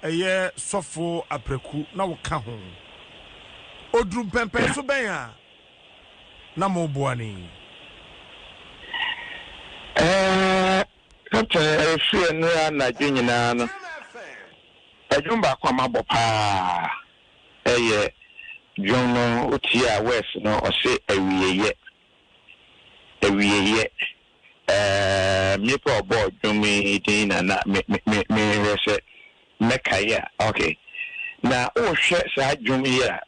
ɛyɛ sɔfo apraku na woka ho. Oduru mpɛnpɛnso bɛn a na moboa no yi? Captain, ɛrefi ɛnnora anadwo nyinaa no, ɛdwom baako a mabɔ paa ɛyɛ dwom no wotie a words no ɔse awieyɛ, awieyɛ. Ɛɛm nipa a ɔbɔɔ dwom yi din na na me me me mehwɛ sɛ mɛkae a ok. Na wohwɛ saa dwom yi a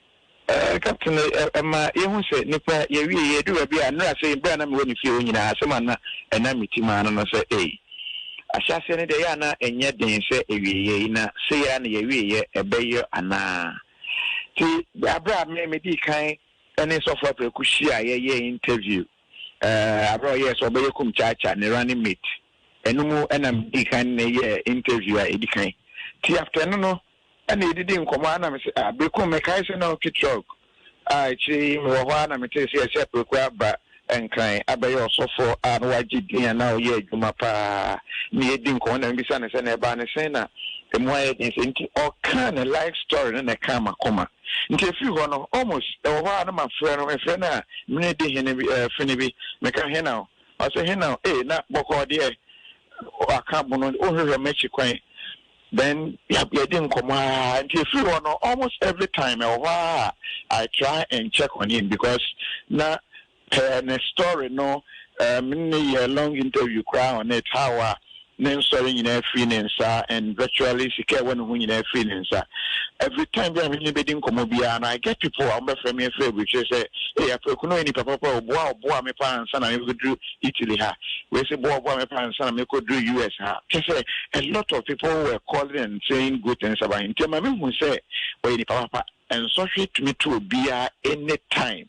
ɛɛ Captain ɛ ɛma yɛhu sɛ nipa yɛwie yɛ ɛduru baabi a nnora sɛ berɛ a na mewɔ ne fie hɔ nyinaa asɛm a na ɛnam me tim ara no no sɛ ei ahyɛaseɛ no deɛ ɛyɛ a na ɛnyɛ den sɛ ɛwieɛ yi na sei ara na yɛwieɛ ɛbɛyɔ anaa nti berɛ a me medii kan ɛne Sɔfo Apraku hyiaeɛ yɛɛ interview Ɛɛ, bere a ɔyɛɛ sɛ ɔbɛyɛ Kumchacha ne Running Mate, ɛno mu na midii kan ne yɛɛ interview a edi kan. Nti after ɛno no na yedidii nkɔmmɔ a na me se, ah, Berekum, mekae sɛ na wotwe truck a akyiri yi mewɔ hɔ ara na metee sɛ yɛse Apreku aba Nkran abɛyɛ ɔsɔfo a na wagye din a na ɔyɛ adwuma pa ara. Na yedii nkɔmmɔ na mibisa no sɛ na ɛbaa no sɛn na emu ayɛ den sɛɛ nti ɔkaa ne life story no na ɛkaa m'akoma. Nti ɛfiri hɔ no, Ormus, ɛwɔ hɔ a na mafrɛ no, mefrɛ no a, me ne di hene bi, eh, fene bi, meka, Hena o? Ɔse, Hena o? Ei, na bɔkɔɔ deɛ waka abono, wonhwehwɛ m'akyi kwan. Then, yɛ, yɛdi nkɔmmɔ ara. Nti ɛfiri hɔ no, almost every time, ɛwɔ hɔ ara a, I try and check on him because na Pɛ ne story no erm ne yɛ long interview koraa on it how a ne nsɔre nyinaa firi ne nsa and virtually sika a ɛwɔ ne ho nyinaa firi ne nsa. Every time bi a me ne no bɛdi nkɔmmɔ biara no I get people a wɔbɛfrɛ me afiri aburukyire sɛ ei Apraku no ɔyɛ nipa papa o boa a ɔboaa me paa ansa na mebɛduru Italy ha, wei se boa a ɔboaa me paa ansa na mekɔduru US ha. Kyerɛ sɛ a lot of people were calling and saying good things about him nti ɛma mehu sɛ ɔyɛ nipa papa. Nsɔhwɛ tumi to obiara any time.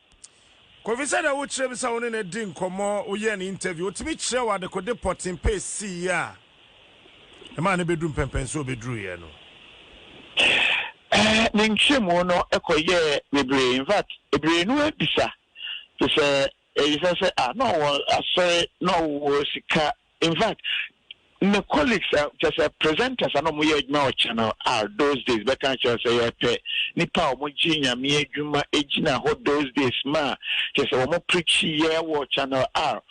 Kofi sɛdeɛ wo kyerɛ me sɛ wo ne no di nkɔmmɔ woyɛ no interview wotumi kyerɛ wo adekode pɔten pɛ ɛsii yɛ a ɛmaa no bɛdu mpɛnpɛn sɛ ɔbɛduru yɛ no? Ne nkyerɛmu no kɔ yɛɛ bebree in fact bebree no abisa te sɛ ɛyisa sɛ ah na ɔwɔ asɔre na ɔwɔ sika Infact me colleagues a kyerɛ sɛ presenters a na wɔyɛ adwuma wɔ Channel R those days bɛka akyerɛ wo sɛ yɛpɛ nnipa a wɔgye Nyame adwuma gyina hɔ those days ma kyerɛ sɛ wɔn preachiiɛ wɔ Channel R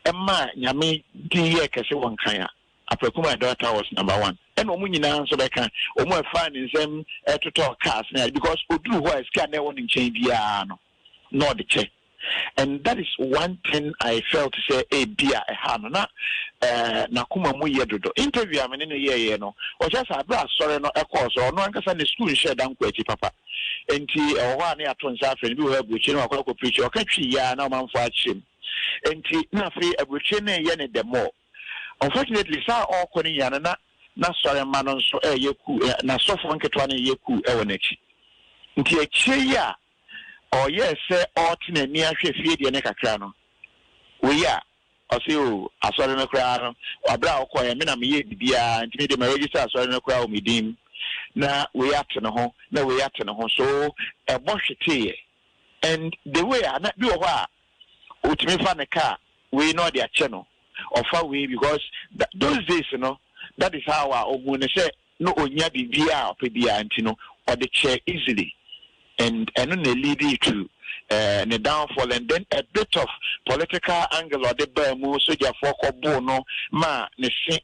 ɛma Nyame din yɛɛ kɛse wɔ Nkran a Apraku my daughter was number one ɛna wɔn nyinaa nso bɛka wɔn a ɛfaa ne nsam ɛtotɔɔ cars ne ade because ɔduru hɔ a sika a na ɛwɔ ne nkyɛn biara no na ɔde kyɛ and that is one thing I felt sɛ ebi a ɛha no na n'akoma mu yɛ dodo. Interview a me ne no yɛeɛ no, ɔkyerɛ sɛ aberɛ a asɔre no ɛkɔɔ so, ɔno ankasa ne sukuu nhyɛɛ da nkɔ akyi papa. Enti ɛwɔ hɔ a na yɛato nsa afrɛ no, bi wɔ hɔ a aburokyire na wakɔ akɔ preachi, ɔka Twi yi ara na ɔmanfoɔ akyerɛ mu. Enti na afei aburokyire no reyɛ no the more. Unfortunately saa a ɔrekɔ no nyinaa no na n'asɔre mma no nso reyɛ kuu, n'asɔfoɔ nketewa no reyɛ kuu wɔ n'akyi. Nti akyire yi a ɔyɛɛ sɛ ɔɔte n'ani ahwɛ fie deɛ no kakra no, wei a, ɔse oh, asɔre no koraa no, aberɛ a ɔkɔɔɛ, me na meyɛɛ biribiara, nti me deɛ ma register asɔre no koraa wɔ me din mu, na wei ate ne ho, na wei ate ne ho, so ɛbɔ hweteeɛ, and the way a, na bi wɔ hɔ a, ɔtumi fa ne car wei na ɔde akyɛ no, ɔfa wei, because those days no, that is how a ɔhuu no sɛ na ɔnya biribiara a ɔpɛ biara nti no ɔde kyɛɛ easily and ɛno na ɛleadee to ne downfall and then a bit of political angle a ɔde baa mu, sogyafoɔ kɔboo no ma ne se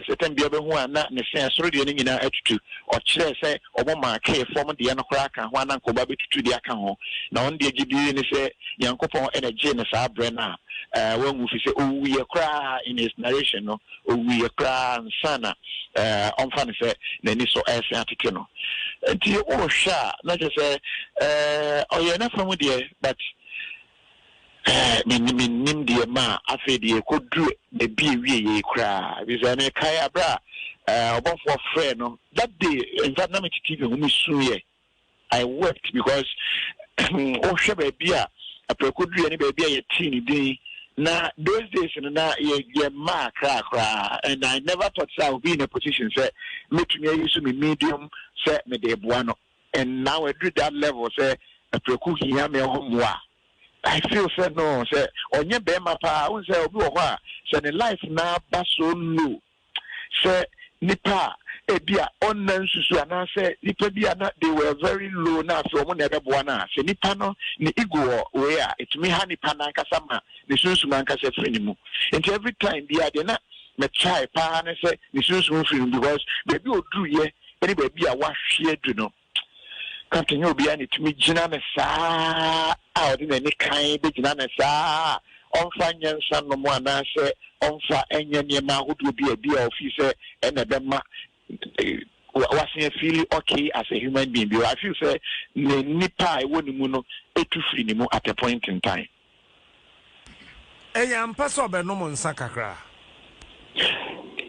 certain bia ɔbɛhu a na ne se ɛsoro deɛ no nyinaa atutu, ɔkyerɛɛ sɛ ɔmo markee fam deɛ no koraa ka ho a na anka ɔba bɛtutu deɛ aka ho na ɔno deɛ gyedie ne sɛ Nyankopɔn na ɛgyee no saa berɛ no a wanwu fisɛ ɔwuiɛ koraa in his narration no. Owuiɛ koraa ansa na ɔmfa no sɛ n'ani so resen atete no. Nti wohwɛ a na kyerɛ sɛ ɔyɛɛ n'afa mu deɛ but mennim deɛ maa afei deɛ ɛkɔduru baabi ɛwieeɛ yi koraa. Ɛfiri sɛ mekae berɛ a ɔbɔfoɔ frɛɛ no that day in fact na mete TV ho mesuiɛ. I wept because wohwɛ baabi a aprako dua ne baabi a yɛtee ne din na those days no na yɛ mmaa kraa koraa and I never thought sɛ I will be in a position sɛ mɛtumi ayi so me medium sɛ mede boa no and now aduru that level sɛ aprako hia me ho mmoa I feel sɛ no sɛ ɔnyɛ bɛrima paa wohu sɛ obi wɔ hɔ a sɛ ne life na aba so low sɛ nipa a ebia ɔnna nsusu anaasɛ nipa bi a na they were very low na afei wɔn na ɛbɛboa no a, sɛ nipa no ne ego wɔ wei a, etumi ha nipa no ankasa ma ne sunsum ankasa firi ne mu. Nti every time biara deɛ na me try paa ne sɛ ne sunsum firi mu because baabi a ɔduruyɛ ne baabi a wahwe adu no, Captain nyɛ obiara na etumi gyina no saa a ɔde n'ani kann begyina no saa a ɔmfa nyɛ nsa nnom anaasɛ ɔmfa nyɛ nneɛma ahodoɔ bi a ebi a ɔfeel sɛ ɛna ɛbɛma wasen afeeli okay as a human being bi. I feel sɛ ne nipa a ɛwɔ ne mu no etu firi ne mu at a point in time. Ɛyɛ ampa sɛ ɔbɛnom nsa kakra?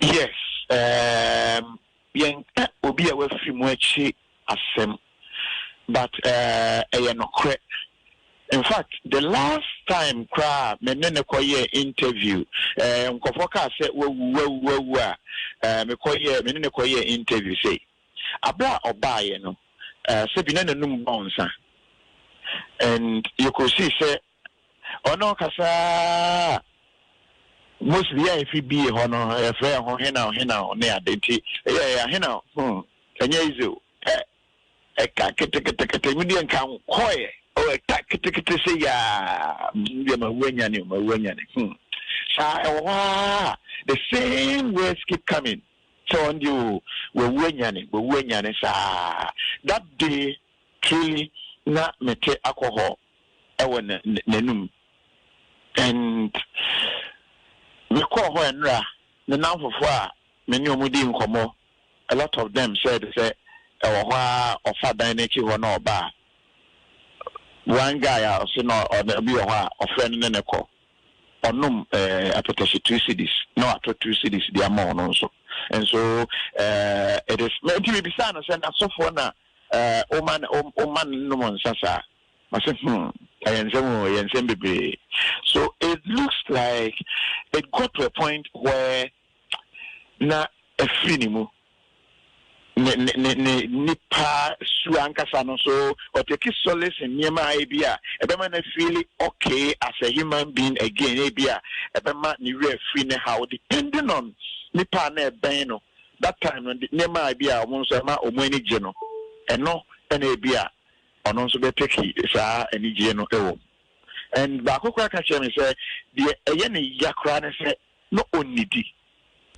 Yes, um, Yɛnka obi a wafiri mu akyi asɛm but eh ɛyɛ nokorɛ. Infact the last time koraa a me ne no kɔ yɛɛ interview eh nkorɔfoɔ kaa sɛ wawu wawu wawu a eh me kɔ yɛɛ me ne no kɔ yɛɛ interview sei. Aberɛ a ɔbaeɛ no eh sɛbi na n'anum bɔnsa and yɛkɔsii sɛ Ɔno kasaa a Moses yɛ a efi bie hɔ no, yɛfrɛ ho henaw henaw ne ade nti yɛ yɛ ahenaw hmm ɛnyɛ easy o ɛ ɛka keteketekete mi deɛ nka nkɔɛ o ɛka ketekete se yaa mi deɛ ma wu anyane o ma wu anyane hmm saa ɛwɔ hɔ aa the same words keep coming sɛ wɔn deɛ o wawu anyane wawu anyane saa that day truly na mete akɔ hɔ. wɔ n'anom and me kɔɔ hɔ ɛnra me namfofoɔ a me ne ɔmo dii nkɔmɔ a lot of them said sɛ ɛwɔ hɔ aa ɔfa dan no akyi hɔ na ɔba a one guy a ɔse na ɔne obi wɔ hɔ a ɔfrɛ no ne ne kɔ ɔnom eh, apɛtɛhye two cities na watɔ two cities de ama ɔno nso nso eh, it is nti mebisaa no sɛ n'asɔfoɔ na Ɛɛ, woma no, woma no nom nsa saa? Ɔse, hmm, ɛyɛ nsɛm o, ɛyɛ nsɛm bebree. So it looks like it got to a point where na afiri ne mu. Ne, ne, ne, ne nipa su ankasa no, so ɔtaki solace in nneɛma a ebi a ɛbɛma no afeeli okay as a human being again, ebi a ɛbɛma ne werɛ afiri ne haw depending on nipa a na ɛbɛn no. That time no nneɛma a ebi a wɔn nso ɛma wɔn ani gye no, ɛno na ebi a ɔno nso bɛ take saa anigyeɛ no wɔ mu. And baako koraa ka kyerɛ me sɛ deɛ ɛyɛ ne ya koraa ne sɛ na ɔnnidi.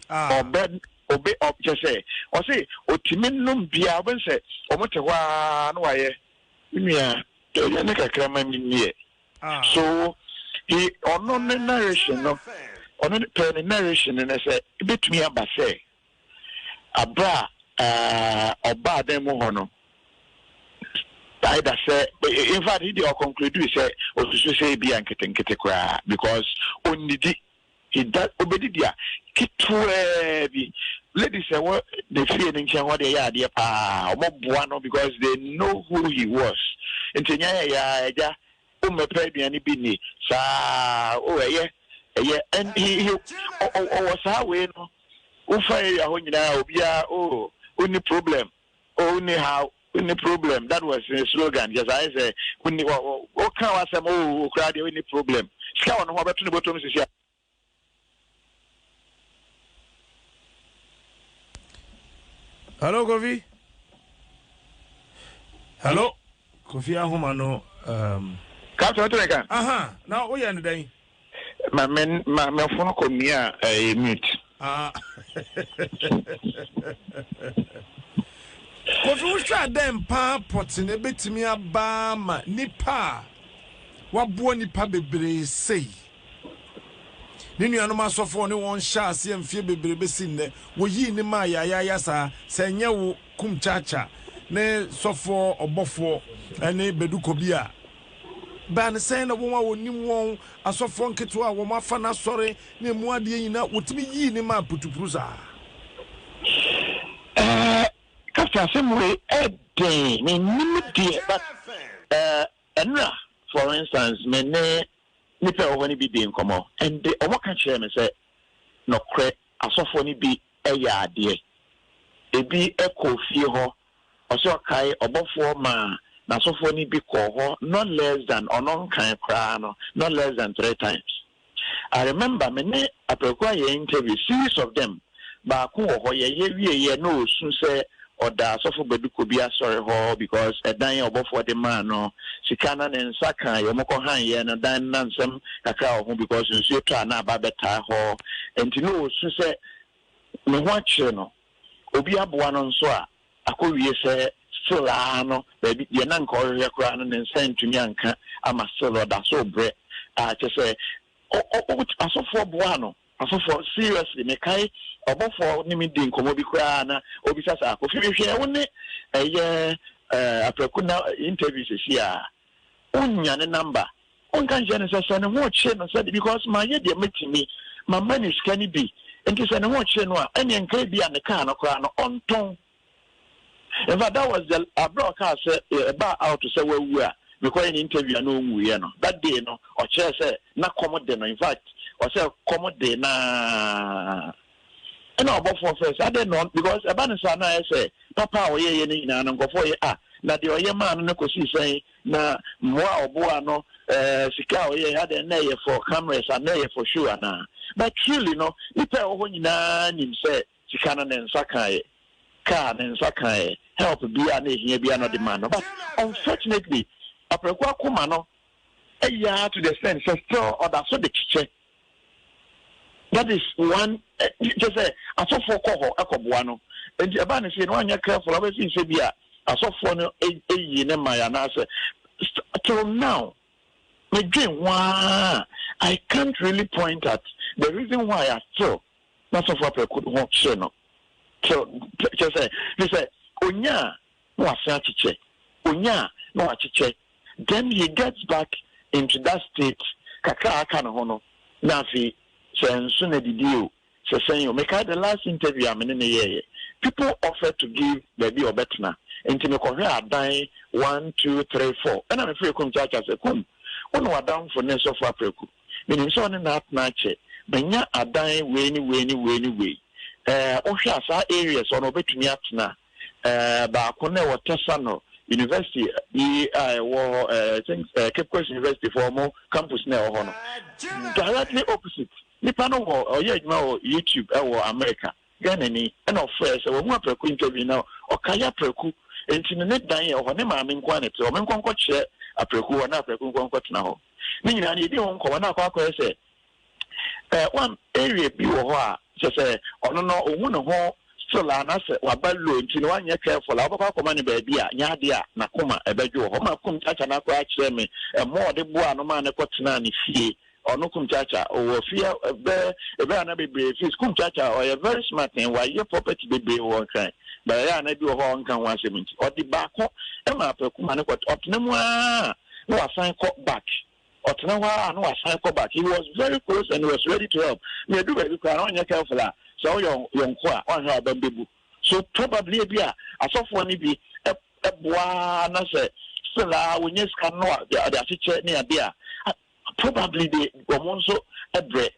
Ah. Ɔbɛ obe ɔ kyɛ sɛ ɔse ɔtumi nom biara ɔbɛ sɛ wɔn te hɔ ara na wayɛ. Me nua, deɛ ɛyɛ ne kakra ma me nni ɛ. So he ɔno ne narration no ɔno ne pɛɛ ne narration no ne sɛ ebetumi aba sɛ abere a eh, ɔbaa dan mu hɔ no either sɛ in fact he deɛ ɔconcludui sɛ osusu sɛ ebi a nketenkete koraa because onnidi He da obedi dua ketewaa bi. Ladies a ɛwɔ ne fie no nkyɛn hɔ deɛ ɛyɛ adeɛ paa. Wɔboa no because they know who he was. Nti nya yɛ yɛ a agya wommɛpɛ aduane bi nni. Saa oh ɛyɛ ɛyɛ and he he ɔ ɔ ɔwɔ saa wei no. Wofa area hɔ nyinaa obiara oh onni problem. Oh wonni haw wonni problem that was ne slogan kyɛ sɛ ayɛ sɛ wonni wɔ wɔ woka w'asɛm oh okura deɛ wonni problem sika wɔ ne ho ɔbɛto ne bɔtɔm sisi a. Hello Kofi. Hello Kofi ahoma no. Um... Captain Oteneka. Aha na woyɛ ne dɛn. Ma me ma me fon kɔ mute a ɛyɛ mute. Ah. Kofi wohwɛ a dɛn paa pɔte na ebetumi aba ma nipa a waboa nipa bebree sei. Ne nuanom asɔfo a ɔne wɔn hyɛ aseɛ mfeɛ bebree bɛsi nnɛ wɔyii ne maa yaayaaya saa sɛ ɛnyɛ wo kum kyaakya ne sɔfoɔ ɔbɔfoɔ ne bɛdukɔ bi a Bɛn sɛn na wɔn a wɔnim wɔn, asɔfoɔ nketewa a wɔafa n'asɔre ne emu adeɛ nyinaa, wɔtumi yii ne maa putupuru saa? Ɛɛ, Captain asɛm wei yɛ den, mennim deɛ but ɛɛ, nnora for instance me ne nnipa a ɛwɔ hɔ no bi dii nkɔmmɔ and wɔka kyerɛɛ me sɛ nɔkorɛ asɔfoɔ no bi yɛ adeɛ, ɛbi kɔɔ fie hɔ, Ɔse ɔkae ɔbɔfoɔ maa n'asɔfoɔ no bi kɔɔ hɔ not less than ɔno nkan koraa no not less than three times. I remember me ne Apraku ayɛ interview series of them baako wɔ hɔ yɛyɛ wieɛ na ɔresu sɛ ɔda asɔfo Baduko bi asɔre hɔ because ɛdan a ɔbɔfoɔ de maa no sika na ne nsa kaa yɛ ɔmo kɔ han yɛ no dan no na nsɛm kakra wɔ ho because nsuo tɔ a na aba abɛtaa hɔ nti na ɔresu sɛ ne ho akyere no. obi aboa no nso a, akɔwie sɛ still ara no baabi deɛ na nka ɔrehwehwɛ koraa no ne nsa antumi anka ama still no ɔda so rebrɛ a kyerɛ sɛ ɔ ɔ ɔbɛtu asɔfoɔ boaa no asɔfoɔ seriously mekae ɔbɔfoɔ ne me di nkɔmmɔ bi koraa na ɔbisa saa Kofi mehwɛɛ wo ne ɛyɛ ɛɛ Apraku na interview sɛsi a Wonnya ne number? Wonka nkyerɛ no sɛ sɛ ne ho kyere no sɛdeɛ because mayɛ deɛ mɛtumi, mama ne sika no bi, nti sɛ ne ho kyere no a, ɛnneɛ nka ebi a ne kaa no koraa no ɔntɔn. In fact, that was the abira ɔkaa sɛ ɛbaa out sɛ wawu a mekɔyɛ ne interview a na ɔnwuiɛ no. That day no ɔkyerɛɛ sɛ na kɔm de no in fact ɔsɛ kɔm de no ara. Ɛna ɔbɔfoɔ frɛɛ sɛ, Adɛn na ɔn Because ɛba no saa na ayɛ sɛ papa a ɔyɛeɛ no nyinaa no nkurɔfoɔ yɛ a, na deɛ ɔyɛ maa no no kɔsii sɛn? Na mmoa a ɔboaa no, ɛɛ sika a ɔyɛeɛ, adɛn na ɛyɛ for cameras anaa na ɛyɛ for show anaa? But truly no, nnipa a ɛwɔ hɔ nyinaa nim sɛ sika no ne nsa kaeɛ, car ne nsa kaeɛ, help biara a na ɛhia biara na ɔde maa no. But unfortunately, Apraku akoma no yɛ ara to the extent sɛ still ɔda so de kyekyɛ. That is one kyɛ sɛ asɔfoɔ kɔ hɔ kɔboa no nti ɛbaa ne sei no anyɛ careful abɛsi sɛ bi a asɔfoɔ no yii ne mmae anaasɛ till now medwen ho ara I can't really point at the reason why I still n'asɔfoɔ apɛko ho hye no till kyɛ sɛ ne sɛ onyaa na ɔasan akyekyɛ, onyaa na ɔakyekyɛ, then he gets back into that state kakra a aka no ho no, na afei sɛ nso na didi o, sɛ sɛn o, mekae the last interview a me ne no yɛeɛ, people offered to give baabi a ɔbɛtena, nti mekɔhwɛɛ adan one, two, three, four, ɛna mefrɛɛ Kum Kyaakyaa sɛ, Kum, wo ne w'adamfo ne Sɔfo Apraku, menim sɛ ɔne no atena akyɛ, manya adan wei ne wei ne wei ne wei, eh, wohwɛ a saa areas hɔ no ɔbɛtumi atena a? baako no a ɛwɔ Tɛsano University bi a ɛwɔ hɔ, I think Cape Coast University fo wɔn campus no a ɛwɔ hɔ no, directly opposite. Nipa no wɔ ɔyɛ adwuma wɔ YouTube ɛwɔ America, Ghana ni, ɛna ɔfrɛ sɛ wɔn aprɛko interview na ɔka yɛ aprɛku nti no ne dan ɛwɔ hɔ ne maame nko na ɛte hɔ, wɔn nkɔ nkɔ kyerɛ aprɛku hɔ na aprɛku nkɔ nkɔ tena hɔ. Ne nyinaa no yɛdi ho nkɔmɔ na akɔ akɔyɛ sɛ. Ɛɛ one area bi wɔ hɔ a kyerɛ sɛ ɔno no ohu ne ho still a na sɛ waba low nti no wanyɛ careful a wobɛkɔ akɔma no baabi a nyɛ ade a n'akoma ɛbɛdwo wɔ hɔ ma Kumkyaakya no akoraa kyerɛ me mmoa a ɔde boaa no maa no kɔ tenaa ne fie ɔno Kumkyaakya ɔwɔ fie bɛ ɛbɛ a na bebree fis Kumkyaakya ɔyɛ very smart and wayɛ property bebree wɔ nkran but ɛyɛ a na bi wɔ hɔ a ɔnka ho asɛm nti ɔde baako ma apɛ kuma no kɔ ɔtena mu aa na wasan kɔ back Ɔtena hɔ ara na wasan kɔ back. He was very close and he was ready to help. Na ɛduru baabi koraa a, na ɔnyɛ careful a, sɛ woyɛ yɔnko a, woanhwɛ a w'abam bɛbu. So probably ebia asɔfoɔ no bi boa ara na sɛ still ara wɔnya sika no na wɔde akyekyɛ ne adeɛ a, probably they wɔn nso brɛ.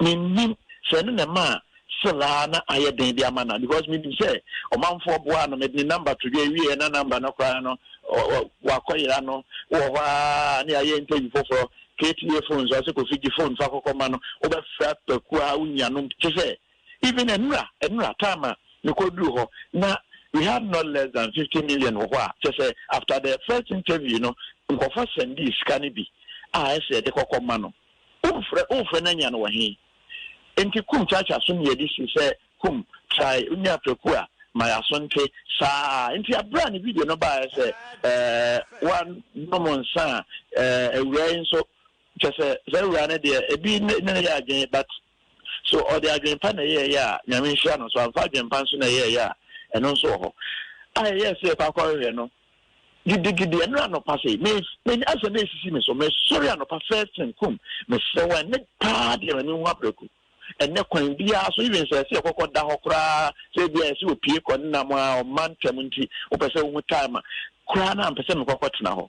mennim sɛ ɛno na ɛmaa still ara na ayɛ den de ama no a because menim sɛ ɔmanfoɔ boaa no mede ne number to dwa wieɛ na number no koraa no wakɔyera no wɔ hɔ a ne ayɛ interview foforɔ kta phone so ɔsɛ kofi gye phone fa kɔkɔ ma no wobɛfra paku a wonya nom te sɛ even ɛnora ɛnora time a mekɔduru hɔ na we had not less than 50 million wɔ hɔ a kyɛ sɛ after the first interview no nkɔfɔ sɛndii sika no bi a ɛsɛ yɛde kɔkɔ ma no Womfrɛ womfrɛ na nya no wɔ he? Nti kum kyaakyaa so ne yɛde si sɛ kum try wonni apraku a ma yɛaso nte saa a nti aberɛ a ne video no baeɛ sɛ ɛɛ wanom nsa a ɛɛ awuraa yi nso kyɛsɛ saa awuraa no deɛ ɛbi ne ne yɛ adwene but So ɔde adwenpa na ɛyɛeɛ a Nyame nhyira no? So amfa adwenpa nso na ɛyɛeɛ a ɛno nso wɔ hɔ a ɛyɛɛ sɛ yɛkɔ akɔhwehwɛ no? gidigidi ɛno anɔpa sɛ me me asɛ me esisi me so me sɔre anɔpa first thing kum me srɛ wɔn ɛnɛ paa deɛ ma me hu abirako ɛnɛ kwan biara so even sɛ ɛsɛ ɛkɔkɔ da hɔ koraa sɛ ebi a ɛsɛ opie kɔ ne nam a ɔma ntɛm nti wopɛ sɛ wohu time a koraa na mpɛ sɛ mekɔkɔ tena hɔ